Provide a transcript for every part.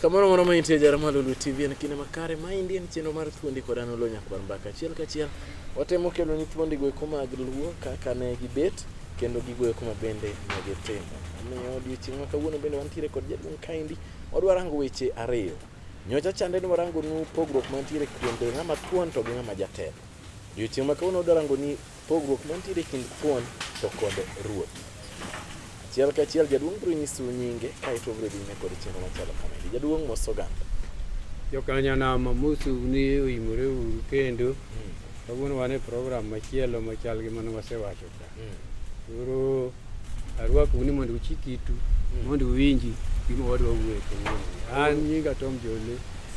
Kamoro moro maintie jara ma Lulu TV en kinde makare ma indi en chenro mar thuondi kod an Oloo Nyakwar Mbaka. Achiel kachiel watemo kelo ni thuondi go eko mag Luo kaka ne gibet kendo gigo eko ma bende ne gitimo. Omiyo odiechieng' ma kawuono bende wantiere kod jaduong' kaendi wadwa rango weche ariyo. Nyocha chande ni warango nu pogruok mantiere kuom bedo ng'ama thuon to gi ng'ama jatelo. Odiechieng' ma kawuono wadwa rango ni Pogruok mantiere kind thuon to kod ruoth. Achiel ka achiel jaduong' biro nyisu nyinge kaeto obiro dhi nyime kod chenro machalo kamagi. Jaduong' mos oganda. Jokanyanama mosu ni oimore uru kendo kawuono wan e program machielo machal gi mane wasewacho ka. Koro Arwakou ni mondo uchik itu hmm. mondo uwinji gima wadwa wuoye kawuono. An nyinga Tom Jole,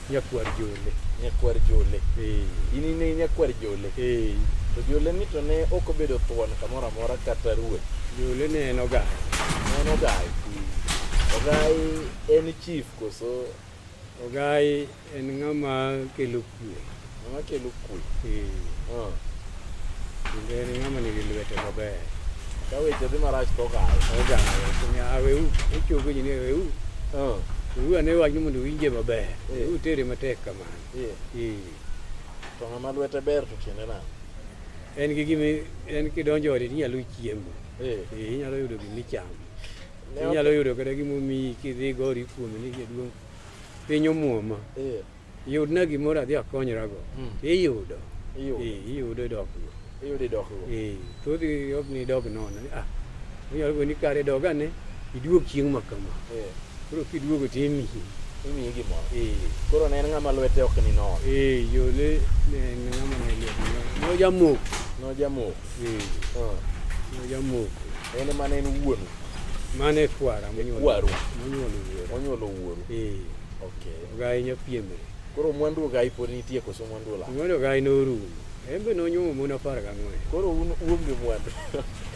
nyakwar Jole. Nyakwar Jole. Eh. In ne nyakwar Jole. Eh. To Jole ni to ne ok obedo thuon kamoro amora kata ruoth. Jole ne en ogai. Ne en ogai. Hmm. Ogai en chief koso? Ogai En ng'ama kelo kue. Ng'ama kelo kue. Ah. Kendo en ng'ama nigi lwete maber. Ka weche dhi marach to ogawe. Ogawe. Onya awewu. Ochogo ji ni awewu. Ah. Uru ane wach ni mondo winje maber. Eh. Uru tere matek kamano. Eh. Eh. To ng'ama lwete ber to tiende nade? En gi gimi en kidonjo ode inyalo chiemo. Eh. Inyalo yudo gimichamo. Inyalo yudo kata gimomiyi kidhi gori kuome ni jaduong' piny omuoma eh. yudna gimoro adhi akonyorago hmm. iyudo iyudo idokgo iyudo idokgo thothi ok ni idog nono ah, onyalo go ni kare dog ane iduog chieng' ma kama eh. koro kiduogo to imiyi imiyi gimoro eh. koro ne en ng'ama lwete ok ni nono yo ne en ng'ama ne lwete nojamoko nojamoko en mane en wuonu mane kwara monyuolo monyuolo wuoru eh. okay gai nyapiemre koro mwandu gai pod nitie koso mwandu la mwandu gai norumo en be nonyuomo mon apar gang'wen koro un uonge mwandu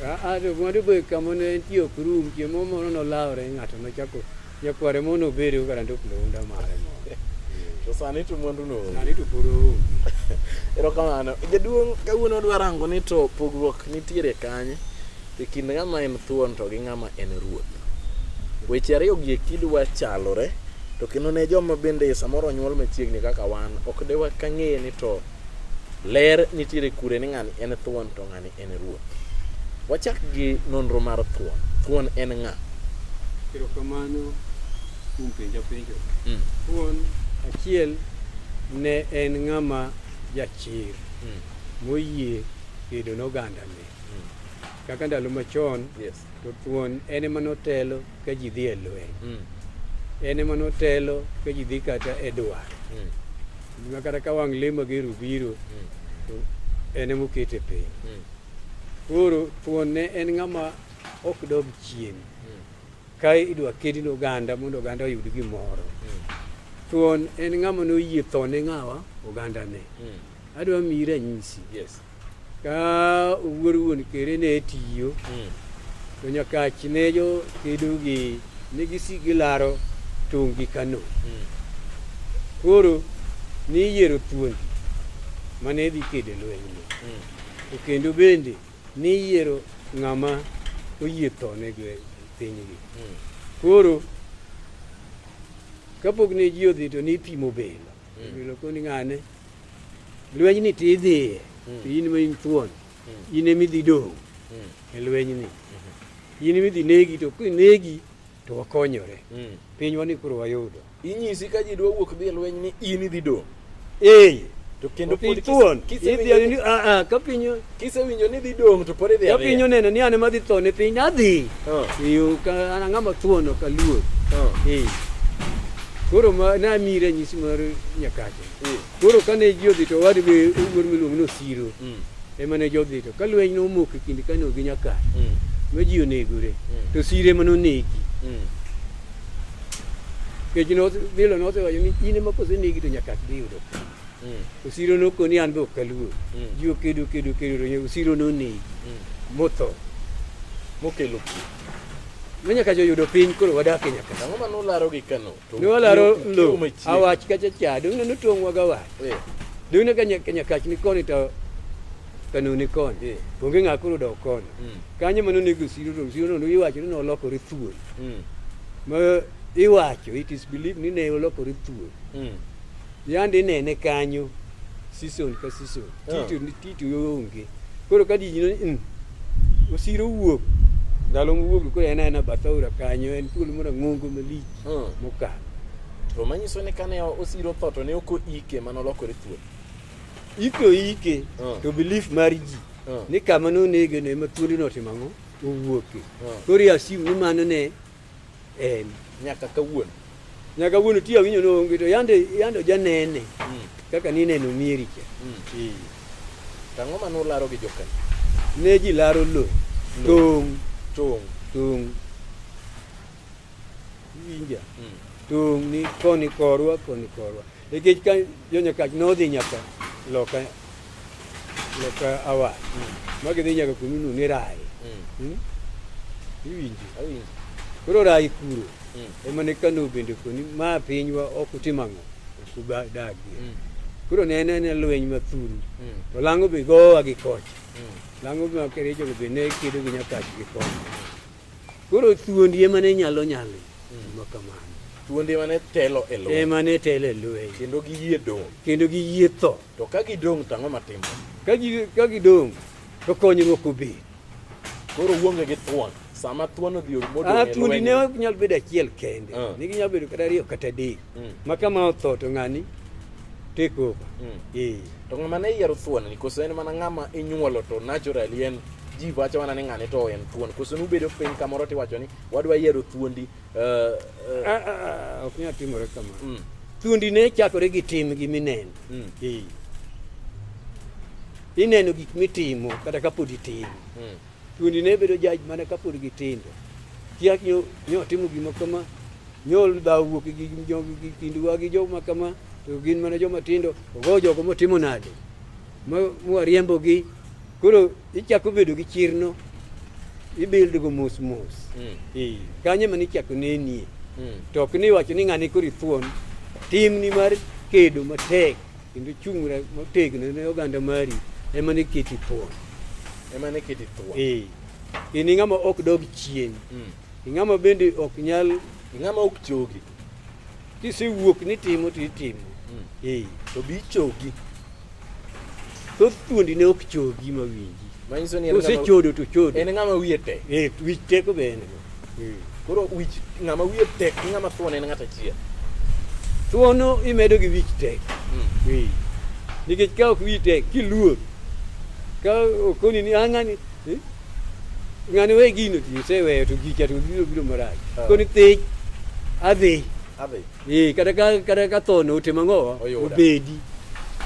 aa ah, ah, to mwandu be kama ne entie ok rum chiemo moro nolawre ng'ato nochako Nyakware mono obedi go kata ndok lounda mare moro. To sani to mwandu no. Sani to pod oonge. Erokamano. Jaduong' kawuono odwa rango ni to pogruok nitiere kanye e kind ng'ama en thuon to gi ng'ama en ruoth. Weche ariyo gi kidwa chalore to kendo ne joma bende samoro onyuol machiegni kaka wan ok de wakang'e ni to ler nitiere kure ni ng'ani en thuon to ng'ani en Ruoth. Wachak gi nonro mar thuon. Thuon en ng'a? Erokamano kuom penja penjo. Mm. Thuon achiel ne en ng'ama jachir mm. moyie kedo nogandane mm. kaka ndalo machon yes. To thuon en ema notelo ka ji dhi e lweny. Mm. En ema notelo ka ji dhi kata e dwar. Mm. Gima kata ka wang' lemo gi rubiro, mm. to en ema okete piny. Mm. Koro thuon ne en ng'ama ok dog chien. Mm. Ka idwa kedi ne oganda mondo oganda oyud gimoro. Mm. Thuon en ng'ama noyie tho ne ng'awa oganda ne. Mm. Adwa miyi ranyisi. Yes. Ka owuor wuon kere ne tiyo hmm. to nyakach ne jo kedo gi ne gisik gilaro tong' gi Kano. Hmm. Koro ne iyiero thuondi mane dhi kedo lwenyno. Hmm. To kendo bende ne iyiero ng'ama oyie thone pinygi. Koro kapok ne ji odhi to ne ipimo bel. Lokoni ng'ane lweny ni ti idhiye hmm. to in ma in thuon hmm. in emi dhi dong' hmm. e lweny ni in emi dhi negi to kinegi to wakonyore pinywa ni koro wayudo inyisi ka ji dwa wuok dhi e lweny ni in idhi dong' ee to kendo pod thuon idhi ni a ah, a ah, ka piny Kisewinjo ni dhi dong' to pod idhi adhiya. Japiny oneno ni an ema dhi tho ne piny adhi. Oh. Iyo ka an ang'ama thuono ka luor. Oh. Eh. Koro ma na mi ranyisi mar nyakache. Mm. Koro kane ji odhi to wadi be wuor miluongo ni Osiro. Mm. Ema ne jodhi to ka lweny nomoko e kind Kano gi Nyakache. Mm. Ma ji onegore. Mm. To Osiro ema nonegi. Mm. Kech no bilo no osewacho ni in ema kosenegi to Nyakache dhi yudo. osiro nokoni an be ok aluor ji okedo kedo kedo ronyo osiro nonegi motho mokelo pi manyaka joyudo piny koro wadak e nyaka ang'o ma nularo gi kano ne walaro lo awach kacha cha dong' ne notong'wa ga wach dong' ne ka nyakach ni koni to kano ni koni onge ng'a koro dok koni kanyo ma nonego osiro to osiro no iwacho ni nolokore thuol ma iwacho it is believed ni ne olokore thuol Yande inene kanyo season ka season. Yeah. Tito ni tito onge. Koro ka di ni mm, osiro wuok ndalo mowuok koro en aena bathaura kanyo en thuolo moro ng'ongo malich Hmm. mokalo. To manyiso ni kane osiro tho to ne ok oike mano lokore thuol. Iko ike Hmm. to belief mar ji Hmm. ni kama nonege ne ma thuolino otimo ang'o owuoke. Hmm. Koro i assume ni mano ne en nyaka kawuono nyaka kawuono ti awinjo ni onge to yande yande ojanene mm. kaka ni neno mieri cha mm. tang'o ma nularo gi jokan ne ji laro lo tong' tong' tong' winja mm. tong' ni koni korwa koni korwa nikech ka jo nyakach nodhi nyaka loka nyaka awa ma gidhi nyaka kununu ni rai Hmm? iwinjo Awinjo. koro rai kuro Mm. ema ne kano bende koni ma pinywa ok utim ang'o ok udagie Mm. koro ne en ane lweny mathuru Mm. to lang'o be gowa gi koch Mm. lang'o be makerejogo be ne kedo gi nyakach gi koch koro thuondi ema ne nyalo nyalo ma kamano Thuonde mane telo e lweny ema ne telo e lweny kendo giyie dong'. kendo giyie tho To ka gidong' to ang'o matimo? Ka gi- ka gidong' to konyruok obed Koro uonge gi thuon. Sama thuon odhi modong' Ah, e thuondi ne lweny. ok nyal bedo achiel kende Ah. ne ginyalo bedo kata ariyo kata adek Mm. ma kama otho to ng'ani take over Mm. Eh. To ng'ama ne yiero thuon ni koso en mana ng'ama inyuolo to naturally en ji wacho mana ni ng'ane to en thuon. Koso nubedo piny kamoro tiwacho ni wadwa yiero thuondi Uh, uh, ah, ah, ah, ok nyal timore kamano. Mm. Thuondi ne chakore gi tim gi mineno. Mm. Ee. Ineno gik mitimo kata kapod itimo. Mm. Thuondi ne bedo jaj mana kapod gitindo. Kiak nyo, nyo timo gima kama, nyol dhaw wuok gi gi kinduwa gi joma kama, to gin mana joma tindo, ogo jogo motimo nade. Ma, ma riembo gi. Koro Ichako bedo gi chirno, ibildogo mos mos. Mm. Eh, kanyo ema nichako nenie. Mm. To ok ni iwacho ni ng'ani koro ithuon. Timni mar kedo matek kendo chung'ra motegno ne oganda mari ema ne keti thuon. Ema ne keti thuon. Eh. In ing'ama ok dog chien. Mm. Ing'ama bende ok nyal ing'ama ok chogi. Kisewuok ni timo to itimo. Mm. Eh, to bi chogi. Thoth thuondi ne ok chogi ma winji. Ma nyiso ni ose chodo to chodo. En ng'ama wiye tek. Eh, wich tek be en. Eh. Koro wich ng'ama wiye tek gi ng'ama thuon en ng'ata achiel. Thuono imedo gi wich tek. Mm. Eh. Nikech ka ok wiyi tek kiluor ka okoni ni ang'ani eh? ng'ani we gino ti oseweyo to gicha to biro biro marach Ah. koni thich adhi Adhi. ee kata ka kata ka tho no otima ng'owa Oyuda. obedi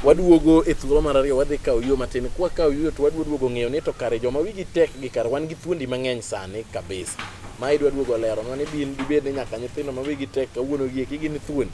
Waduogo e thuolo mar ariyo wadhi kawo yo matin. Kwa kawo yo to wadwa duogo ng'eyo ni to kare joma wigi tek gi kar wan gi thuondi mang'eny sani kabisa. Ma idwa duogo lero nwa ni bin dibed ni nyaka nyithindo ma wigi tek kawuono gi eki gin thuondi.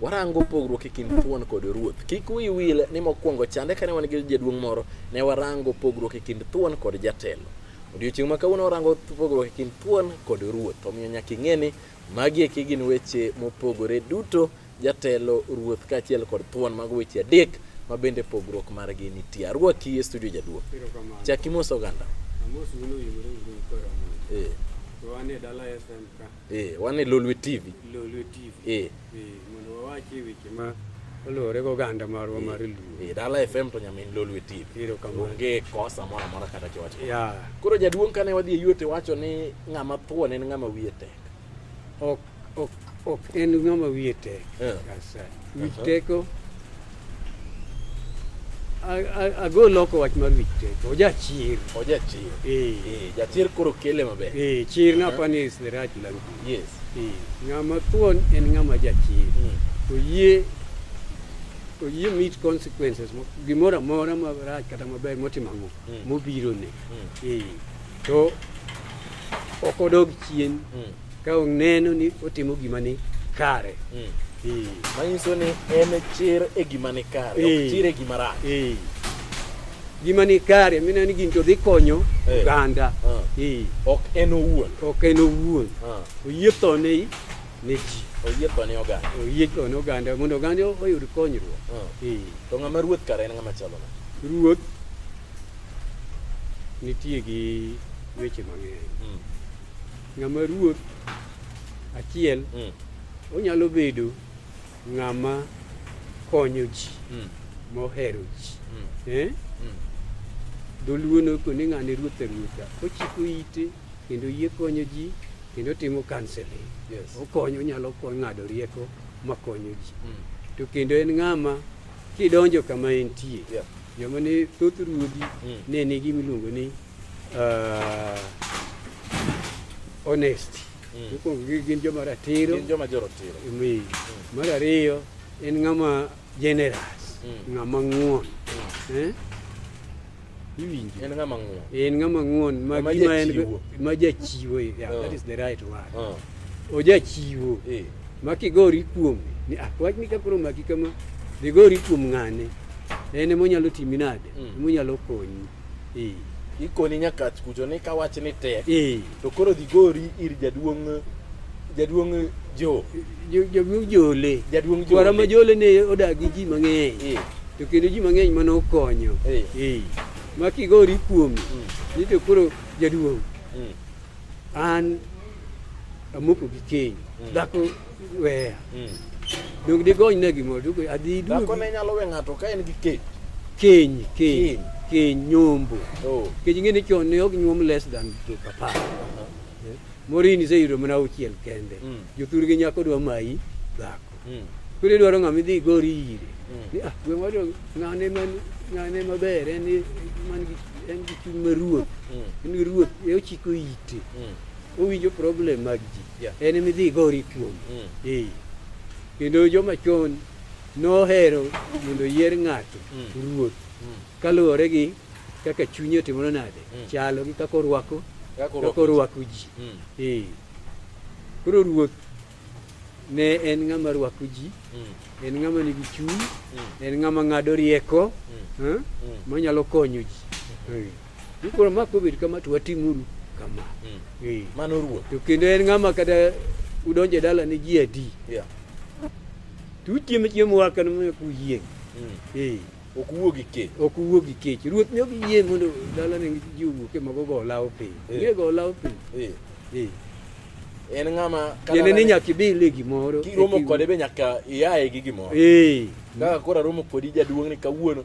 Warango pogruok e kind thuon kod ruoth. Kik wiyi wil ni mokwongo chande kane wan gi jaduong' moro, ne warango pogruok e kind thuon kod jatelo. Odiochieng' ma kawuono warango pogruok e kind thuon kod ruoth. Omiyo nyaka ing'e ni magi eki gin weche mopogore duto, jatelo, ruoth kaachiel kod thuon, mago weche adek ma bende pogruok margi nitie. Arwaki e studio jaduong'. Chak imoso oganda. Amos wuon oyimore uru koro. Eh. Wan e dala FM ka. Eh, wan e Lolwe TV. Lolwe TV. Eh. Eh, mondo wawachi weche ma oluwore goganda marwa eh, mar Luo. Eh, Dala FM to nyamin Lolwe TV. Ero kamano. Onge kosa moro amora kata kiwacho. Yeah. Koro jaduong' kane wadhi e yuote wacho ni ng'ama thuon en ng'ama wiye tek. Ok ok ok en ng'ama wiye tek. Yeah. Yes, sir. Wich teko. ago loko wach mar wich tek ojachir ojachir eh. eh, jachir koro kele maber eh, chir na uh-huh. pani is the right language yes ng'ama thuon en ng'ama jachir hmm. oyie oyie meet consequences gimoro amora marach kata maber motimo ang'o hmm. mobirone hmm. to ok odog chien Ka oneno ni otimo gima ni kare. Mm. Manyiso ni en chir e gima ni kare, ok chir e gima rach. Gima ni kare, mina ni gin to dhi konyo oganda. Ok en owuon. Ok en owuon. Oyie tho ne ne ji. Oyie tho ne oganda. Oyie tho ne oganda mondo oganda oyud konyruok. To ng'ama ruoth kare en ng'ama chalo nade? ruoth nitie gi weche mang'eny hmm. Ng'ama ruoth achiel mm. onyalo bedo ng'ama konyo ji mm. mohero ji mm. eh? mm. dholuo noko ni ng'ane ruoth ruotha ochiko ite kendo yie konyo ji kendo timo counseling yes. okonyo onyalo ng'ado rieko makonyo ji mm. to kendo en ng'ama kidonjo kama entie yeah. joma ne thoth ruodhi mm. ne nigi miluongo ni uh, honesty mm. Mokwongo gin joma ratiro, gin joma joratiro. Mm. Mar ariyo en ng'ama generous mm. ng'ama ng'won mm. eh? iwinjo en ng'ama ng'won en ng'ama ng'won ma gima en ma jachiwo eh, yeah, oh. that is the right word oh. ojachiwo eh. ma kigori kuom ni ah, wach ni kakoro maki kama dhigori kuom ng'ane en emonyalo timi nade mm. emonyalo konyi Eh. Ikoni nyaka kucho ni kawach ni tek. Eh. To koro dhi gori ir jaduong' jaduong' jo jaduong' jole jaduong' jole kwara ma jole ne odak gi ji mang'eny eh. to kendo ji mang'eny mane okonyo eh. eh. ma kigori kuome mm. ni to koro jaduong' mm. an amoko gi keny mm. dhako weya mm. donge digony na gimoro donge adhi duogi dhako ne nyalo we ng'ato ka en gi keny keny keny keny nyombo oh. kech ing'e ni chon ne ok nyuom less than to papa eh? morini iseyudo mana auchiel kende mm. jothurgi nyako dwa mayi dhako mm. koro idwaro ng'ama idhi igori ire mm. ni ah gwe moro ng'ane man ng'ane maber en man gi en gi chuny ma ruoth mm. en gi ruoth e ochiko ite mm. owinjo problem mag ji Yeah. En ema idhi igori kuom. Mm. Ee. Kendo joma chon nohero mondo yier ng'ato Mm. ruoth Mm. kaluwore gi kaka chunye otimore nade Mm. chalo gi kaka orwako Kaka kaka orwako ji. orwako ji. Mm. Ee. Koro ruoth ne en ng'ama rwako ji, Mm. en ng'ama nigi chuny, Mm. en ng'ama ng'ado rieko, Mm. eh, Mm. manyalo konyo ji. Ee. Koro ma kobed kama to watimuru kama. Mm. Eh. Mano ruoth. To kendo en ng'ama kata udonjo e dala ni ji adi. Yeah. To uchiemo chiemo waka ni moyo kuyieng'. Mm. Eh. Ok uwuo gi kech. Ok uwuo gi kech. Ruoth ne ok yie mondo dala ni ji owuok e mago go lawo piny. Eh. Ng'e go lawo piny. Eh. Eh. En ng'ama kata ni nyaka ibile e gimoro. Kiromo kode be nyaka iaye gi gimoro. Eh. Kaka koro aromo kodi jaduong' ni kawuono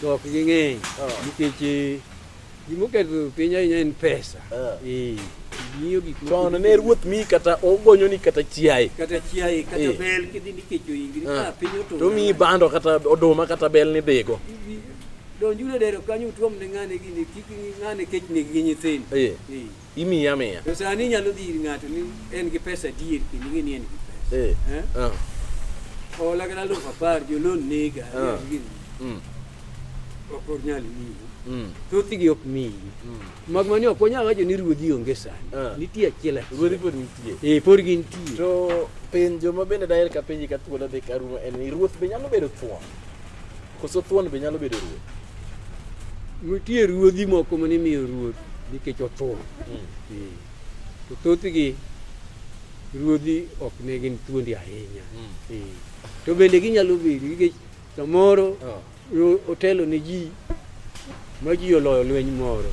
To ok ging'eny ah. nikech eh, gimoketho piny ahinya en pesa. Ah. Eh, miyo gik moko. To ne ruoth mi kata ogonyo ni kata chiaye. Kata chiaye kata eh. bel kidhi nikecho ingri ka ah. piny oto. To mi bando kata oduma kata bel ni dhigo. Donjure dero kanyo utuom ne ng'ane gini kik ng'ane kech ne gi nyithindo. Eh. Imiye amiya. To sani inyalo dhi ir ng'ato ni en gi pesa adier kendo ing'e ni en gi pesa. Eh. Eh? Ah. Hola kata alufu apar jolon nega. Ah. Mm. Ok onyal miyi. Mm. Thothgi ok miyi. Mm. Mag mani ok wanyal wacho ni ruodhi onge sani. Ah. Nitie achiel achiel. Ruodhi pod nitie. Eh, pod gintie. To penjo ma bende daher ka penji ka thuolo dhi ka rumo en ni ruoth be nyalo bedo thuon? Koso thuon be nyalo bedo ruoth? Nitie ruodhi moko mane imiyo ruoth nikech othuon. Hmm. Hmm. To thothgi ruodhi ok ne gin thuondi ahinya. Hmm. To bende ginyalo bedo nikech samoro ah. otelo ne ji ma ji oloyo lweny moro.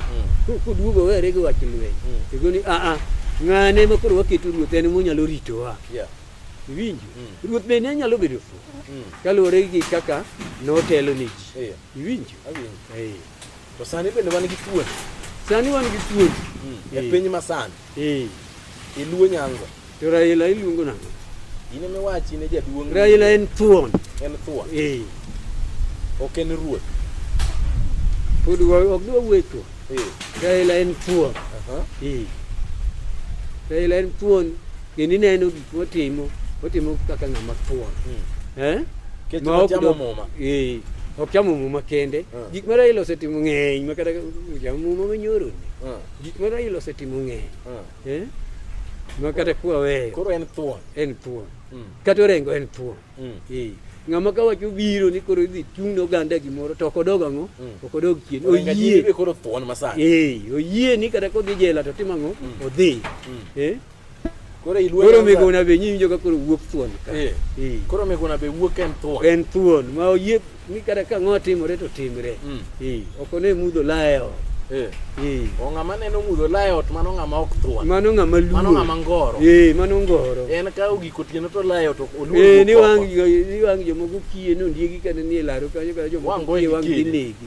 Koduogo were gi wach lweny. Tego ni a a ng'ane ma koro waketo ruoth en monyalo ritowa. Iwinjo? Mm. Ruoth bende ne nyalo bedo fuwo mm. kaluwore gi kaka notelo ne ji. Yeah. Iwinjo? Awinjo. Hey. To sani bende wan gi tuon. Sani wan gi tuon. Mm. E hey. piny masani. Hey. Iluo nyango. To Raila iluongo nang'o? In ema iwachi ne jaduong'. Raila en thuon. En thuon. Hey. Ok en ruoth. Pod ok dwa wuoyo thuon. Hey. Raila en thuon. Uh -huh. Hey. Raila en thuon. Kendo ineno gik motimo, otimo kaka ng'ama thuon. Hmm. Eh? Kech ma ok chamo muma. Eh. Ok chamo muma kende. Hmm. Gik ma Raila osetimo ng'eny ma kata chamo muma ma nyoro ni. Hmm. Gik ma Raila osetimo ng'eny. Hmm. Eh? Ma kata kwa weyo. Koro en thuon. En thuon. Hmm. Kata orengo en thuon. Hmm. Eh. ng'ama ka wacho biro ni koro idhi chung' ne oganda gimoro to ok odog ang'o mm. ok odog chien oyie koro thuon masani eh oyie ni kata kodhi jela to timo ang'o mm. odhi mm. eh Koro ilweny. Koro migona be nyinyi joka koro wuok thuon ka. Eh. Eh. Koro migona be wuok en thuon. En thuon ma oyie ni kada ka ng'o timore to timre. Mm. Eh. Ok one mudho layo. Eh. Eh. O ng'ama neno mudho layo ot mano ng'ama ok thuon. Mano ng'ama luo. Mano ng'ama ngoro. Eh, mano ngoro. En ka ogiko tieno to layo to oluo. Eh, ni wang ni wang jomoko kiye no ndiegi kane ni e laro kanyo kanyo jomoko kiye wang ginegi.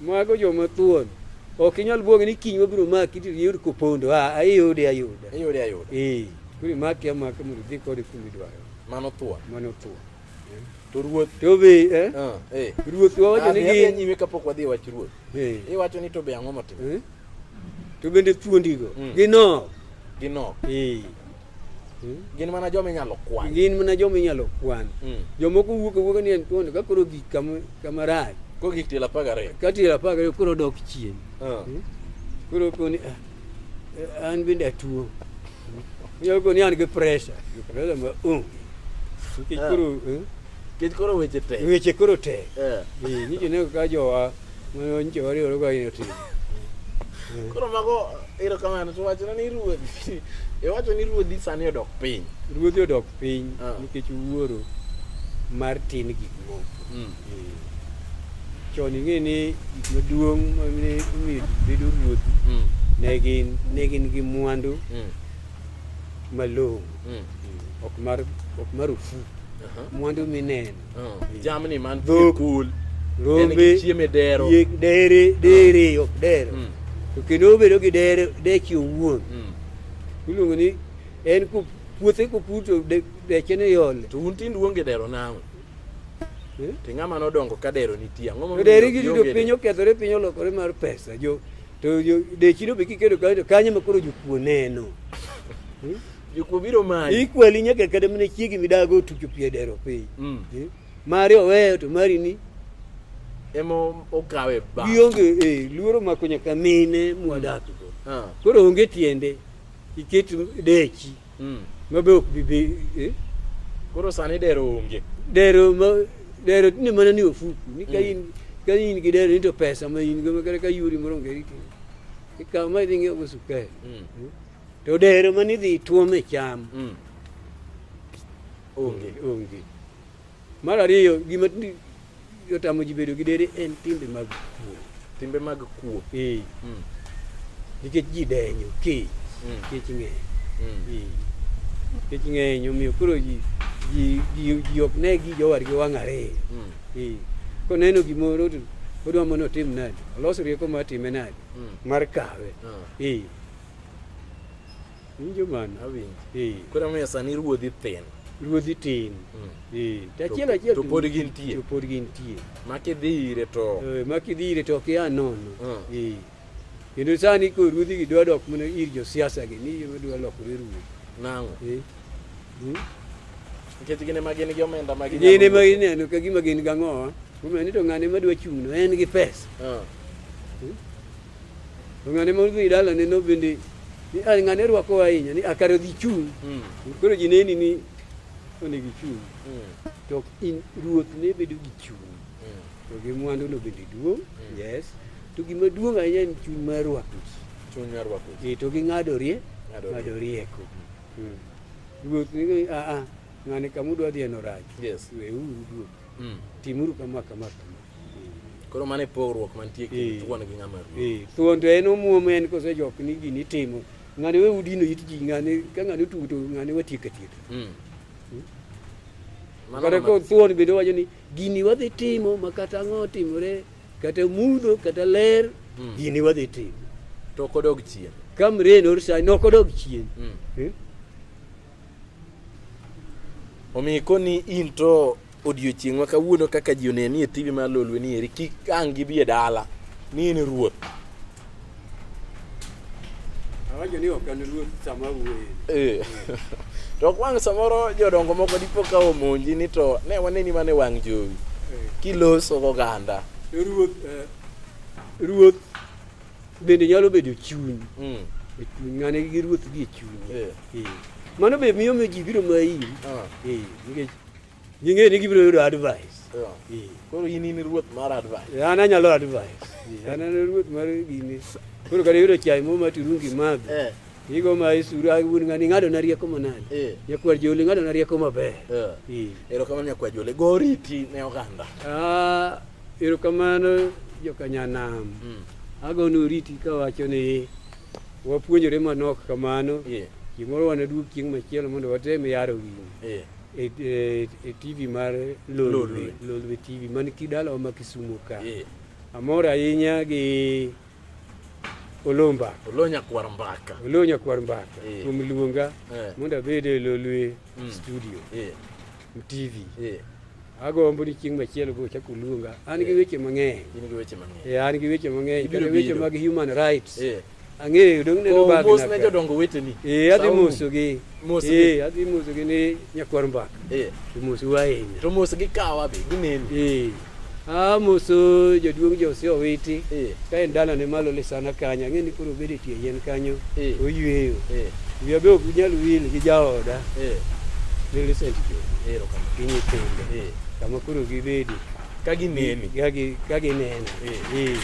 Mago joma thuon. Ok inyal buoge ni kiny wabiro maki to yud kupondo. Ah, ayude ayuda. Iyude ayuda. Eh, kuri maki amaka mondo dhi kode kuma idwaro. Mano thuon. Mano thuon. To ruoth. To be, eh? Ah, eh. Ruoth wawacho ni Adhi adhi gi nyime kapok wadhi e wach ruoth. eh. Iwacho ni to be ang'o motimo? eh? To bende thuondigo mm. ginok. Ginok. Ee. Hmm? Gin mana joma inyalo kwan. Gin mana joma inyalo kwan. Hmm. Jomoko wuok awuoka ni en thuondi ka koro gik kama kama rach. Ko gik tiel apar gariyo. Ka tiel apar gariyo koro dok chien. Ah. Hmm? Koro koni ah, eh, an bende atuo. Inyalo koni an gi pressure. Gi pressure ma onge. Nikech ah. koro eh? Nikech koro weche tek. Weche koro tek. Eh. Ee. Nikech ne ka jowa Mwenje wari uri kwa yeti. Koro mago ero kamano to wachna ni ruodhi. E wacho ni ruodhi sani odok piny. Ruodhi odok piny ah. nikech wuoro mar tin gik moko. Mm. Eh. Chon ing'e ni gik maduong' ma ne omiyo ji bedo ruodhi mm. ne gin ne gin gi mwandu mm. malong'o ok mar ok marufuku mwandu mineno jamni man kul rombe chieme dero yek dere dere ah. ok dero mm. to kendo obedo gi dere deche owuon mm. iluongo ni en ku puothe kopur to deche ne yole to un tind uonge dero nang'o eh? to ng'ama nodongo ka dero nitie ang'o momiyo dere gi yudo piny okethore piny olokore mar pesa jo to dechi no be kikedo kanyo to kanyo ma koro jokuo neno hmm? Jokuo biro manyi. Ikweli nyaka kada mine chiegi midago tucho pie dero piny. Mm. Eh? Mari oweyo to mari ni ema okawe ba. Gionge eh luoro mako nyaka mine mwadak go. Mm. Ah. Koro onge tiende iket dechi. Mm. Mabe ok bibi eh. Koro sani dero onge. Dero ma dero ni mana ni ofuku ni ka mm. in ka in gi dero ni to pesa ma in go ma kare ka yuri moro ngeri. Ikaw ma idhi ng'iewo sukari. Mm. Eh? To dero mane idhi tuom e cham mm. onge onge. Mar ariyo gima otamo ji bedo gi dere en timbe mag kuo. Timbe mag kuo. Eh. Mm. Nikech ji denyo kech. Mm. Kech ng'eny. Mm. Eh. Kech ng'eny omiyo koro ji ji ji ji ok ne gi jowargi wang' ariyo. Mm. Eh. Koneno gimoro to odwa mondo otim nade? Olos rieko mar time nade? Mm. Mar kawe. Mm. Eh. winjo man awinjo eh. koro miyo sani ruodhi thin ruodhi tin hmm. eh, to achiel achiel to pod gintie to pod gintie makidhi ire to eh, makidhi ire to ok ya nono hmm. kendo sani ko ruodhi gi dwa dok mana ir josiasa gi ni dwa lokore ruodhi nang'o hmm? nikech gin ema gin gi omenda ma gin ema gineno ka gima gin gang'owa omiyo ni to ng'ane madwa chung'no en gi pesa To ng'ane ma odhi dalane no bende ni ah, ng'ane rwako ahinya ni akare ah, dhi chung'. Hmm. Koro ji neni ni onego ichung'. Hmm. To in ruoth ne bedo gi chung'. Hmm. To gi mwandu no bende duong'. Yes. To gima duong' ahinya en chuny mar rwako ji. Chuny mar rwako ji. Eh, to gi ng'ado rie. Ng'ado rieko. Ruoth ni a ah, a ng'ane kamudwa dhiye no rach. Yes. Weuru duogo. Timuru kama kama kama. Koro mano e pogruok mantie e kind thuon gi ng'ama ruoth. Eh, thuon to en omuom en kose jok ni gini timo. Ng'ane we udino it ji ng'ane ka ng'ane otugo to ng'ane watiek atiek. Mm. Hmm? Kata ko thuon bende wacho ni gini wadhi timo ma kata ang'o timore kata mudho kata ler hmm. gini wadhi timo. To ok odog chien. Ka mren or sa nok odog chien. Hmm. Eh? Omiyo koni in to Odiochieng' ma kawuono kaka ji oneni e TV mar Lolwe ni eri kik ang' gibi e dala ni in ruoth. Awacho ni ok an ruoth sama awuoye. Eh. To ok wang' samoro jodongo moko dipo ka omonji ni to ne waneni mana e wang' jowi Eh. kiloso goganda. Ruoth eh, ruoth bende nyalo bedo chuny. Mm. E chuny ng'ane gi ruoth gi e chuny. Eh. Eh. Mano be miyo miyo ji biro mayi. Ah. Eh, nikech Ging'e ni gibiro yudo advice. Yeah. Koro in in ruoth mar advice. Eh, an anyalo advice. Eh, an an ruoth mar gini. Koro kare yudo chai mo ma turungi madho. Eh. Igo ma isuru awun ngani ngado na rieko manani. Eh. Nyakwar joli ngado na rieko maber. Eh. eh. Ero kamano nyakwar joli goriti ne oganda. Ah, ero kamano jokanyanam. Mm. Agonu riti kawacho ni wapuonjore manok kamano. Yeah. Gimoro wanaduog chieng' machielo mondo watem yaro gini. Yeah. e, e, e TV mar Lolwe, Lolwe TV man kidalawa ma Kisumu ka yeah. Amor ahinya gi Olomba Olonya kwar mbaka Olonya kwar mbaka yeah. kuom luonga yeah. mondo abed e Lolwe mm. studio yeah. TV yeah. agombo ni chieng' machielo go chako luonga an gi weche mang'eny an gi weche mang'eny kata weche mag human rights Ang'eyo dong neno Oh, bag mos na ne ka. jodongo weteni. Eh, adhi Sauru. mosogi. Mosgi. Eh, adhi mosogi ni nyakwar mbaka. Eh, To mosu ahinya. to mos gi kawa be gineni. Eh. Ah, moso jaduong' Jose Owiti. Eh, Ka en dala ne malo lisana kanyo, ang'e ni koro obed e tie yien kanyo. Eh. Oyweyo. eh, Wiya be ok nyal wil gi jaoda. eh, Millicent Jo. erokamano. Gi nyithinde. Eh. Kama koro gibedi. ka gineni ka gi- ka ginena Eh, eh.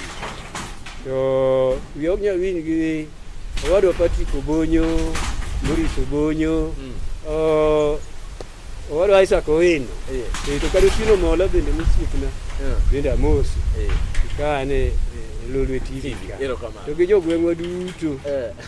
to wi ok nyal winj gi owadwa Patrick Obonyo Maurice Obonyo Mm. o- owadwa Isaac Owino Eh, Eh, to kata Otieno Mola bende mosiepna eh, bende amosi eh. kane eh, Lolwe TV ka. Erokamano. to gi jogweng'wa duto Eh.